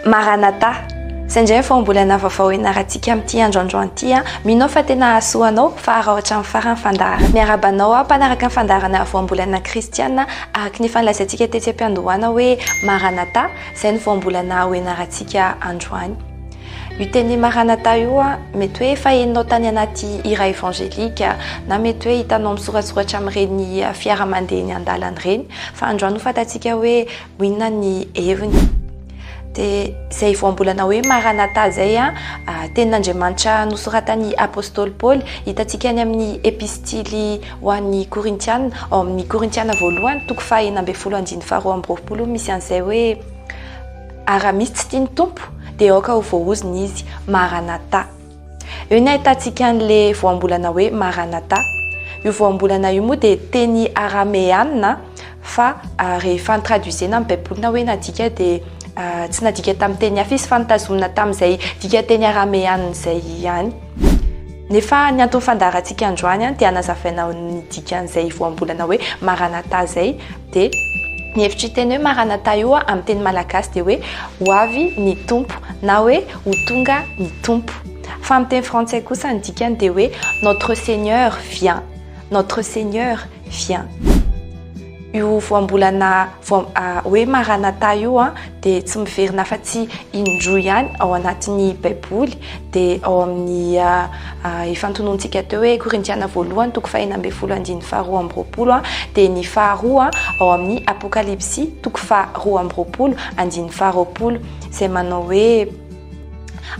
Maranatha! Izay indray ny fahombolana vaovao hianarantsika amin'ity andro androany ity an! Mino aho fa tena hahasoa anao fa harao hatramin'ny farany ny fandaharana. Miarahaba anao aho mpanaraka ny fandaharana voambolana kristiana araka ny efa nilazaintsika tetsy am-piandohana hoe Maranatha! Izay no voambolana ho hianarantsika androany. Io teny Maranatha io an! Mety hoe efa henonao tany anaty hira evangelika na mety hoe hitanao misoratsoratra amin'ireny fiara mandeha eny an-dalana ireny. Fa androany ho fantatsika hoe inona ny heviny. Dia izay voambolana hoe Maranatha izay a, ah, tenin'Andriamanitra nosoratan'ny apostoly Paoly, hitantsika any amin'ny epistily ho an'ny Korintiana, ao amin'ny Korintiana voalohany, toko fahenina ambin'ny folo andininy faharoa amby roapolo, misy an'izay hoe Ary raha misy tsy tia ny Tompo, dia aoka ho voahozona izy. Maranatha. Eo ny ahitantsika an'le voambolana hoe Maranatha. Io voambolana io moa dia teny arameana fa rehefa ny traduisena amin'ny baibolina hoe nadika dia tsy nadika tamin'ny teny hafa izy fa nitazomina tamin'izay dika teny arameana izay ihany. Nefa ny anton'ny fandaharantsika androany dia anazavaina ny dikan'izay voambolana hoe Maranatha izay. D, Ny hevitr'io teny hoe Maranatha io amin'ny teny malagasy dia hoe ho avy ny Tompo na hoe ho tonga ny Tompo. Fa amin'ny teny frantsay kosa ny dikany dia hoe Notre Seigneur vient, Notre Seigneur vient. Io voambolana hoe Maranatha io dia tsy miverina afa-tsy indroa ihany ao anatin'ny Baiboly, dia ao amin'ny efa antonontsika teo hoe Korintiana voalohany toko fahena ambin'ny folo andininy faharoa amby roapolo, dia ny faharoa ao amin'ny Apokalypsy toko faharoa amby roapolo andininy faharoapolo, izay manao hoe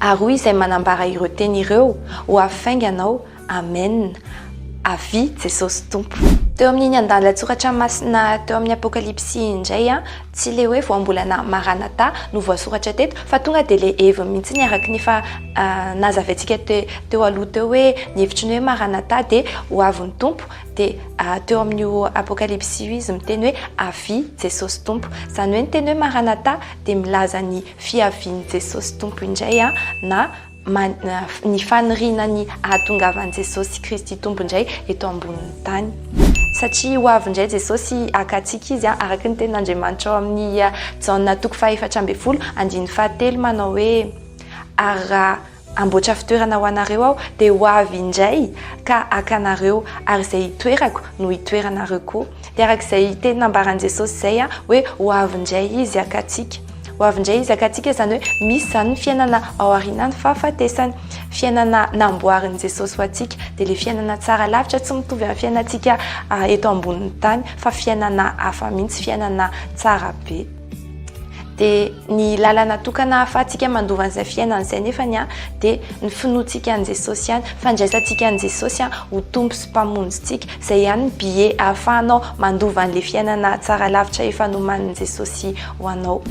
ary hoy izay manambara ireo teny ireo, ho avy faingana aho Amen! Avia Jesosy Tompo! Teo amin'iny andalan-tsoratra masina teo amin'ny Apokalypsy iny indray, tsy ilay hoe voambolana Maranatha no voasoratra teto fa tonga dia ilay heviny mihitsy ny araka ny efa nazavaintsika teo aloha teo hoe ny hevitry ny hoe Maranatha dia ho avy ny Tompo dia teo amin'io Apokalypsy io izy miteny hoe avia Jesosy Tompo. Izany hoe ny teny hoe Maranatha dia milaza ny fiavian'i Jesosy Tompo indray na man ny faniriana ny hahatongavan'i Jesosy Kristy Tompo indray eto ambonin'ny tany. Satria ho avy indray Jesosy haka antsika Izy, araka ny tenin'Andriamanitra ao amin'ny Jaona toko fahefatra ambin'ny folo andininy fahatelo manao hoe, Ary raha hamboatra fitoerana ho anareo Aho, dia ho avy indray ka haka anareo, ary izay hitoerako no hitoeranareo koa. Dia araka izay teny nambaran'i Jesosy izay hoe ho avy indray Izy haka antsika. Ho avy indray Izy haka antsika izany hoe misy izany ny fiainana ao aorianan'ny fahafatesana. Fiainana namboarin'i Jesosy ho antsika. Dia ilay fiainana tsara lavitra tsy mitovy amin'ny fiainantsika eto ambonin'ny tany fa fiainana hafa mihitsy, fiainana tsara be. dia ny lalana tokana ahafahantsika mandova an'izay fiainana izay nefany an dia ny finoantsika an'i Jesosy ihany fandraisantsika an'i Jesosy an ho tompo sy mpamonjintsika izay ihany ny billet ahafahanao mandova an'ilay fiainana tsara lavitra efa nomanin'i Jesosy ho anao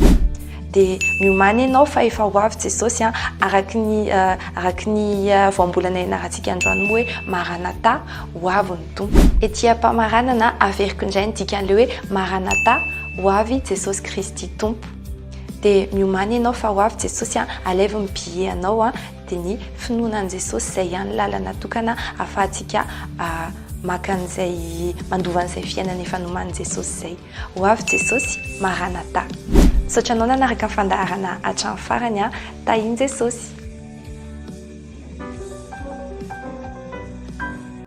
dia miomany ianao fa efa ho avy Jesosy an araky ny araky ny voambolana ianarantsika androany moa hoe maranatha ho avy Tompo. Ety am-pamaranana averiko indray ny dikan'ilay hoe Maranatha, ho avy Jesosy Kristy Tompo. Dia miomàna ianao fa ho avy Jesosy an, alaivo ny billet anao an, dia ny finoana an'i Jesosy izay ihany lalana tokana ahafahantsika maka an'izay, mandova an'izay fiainana efa noman'i Jesosy izay. Ho avy Jesosy, Maranatha. Misaotra anao nanaraka ny fandaharana hatramin'ny farany an, Tahin'i Jesosy.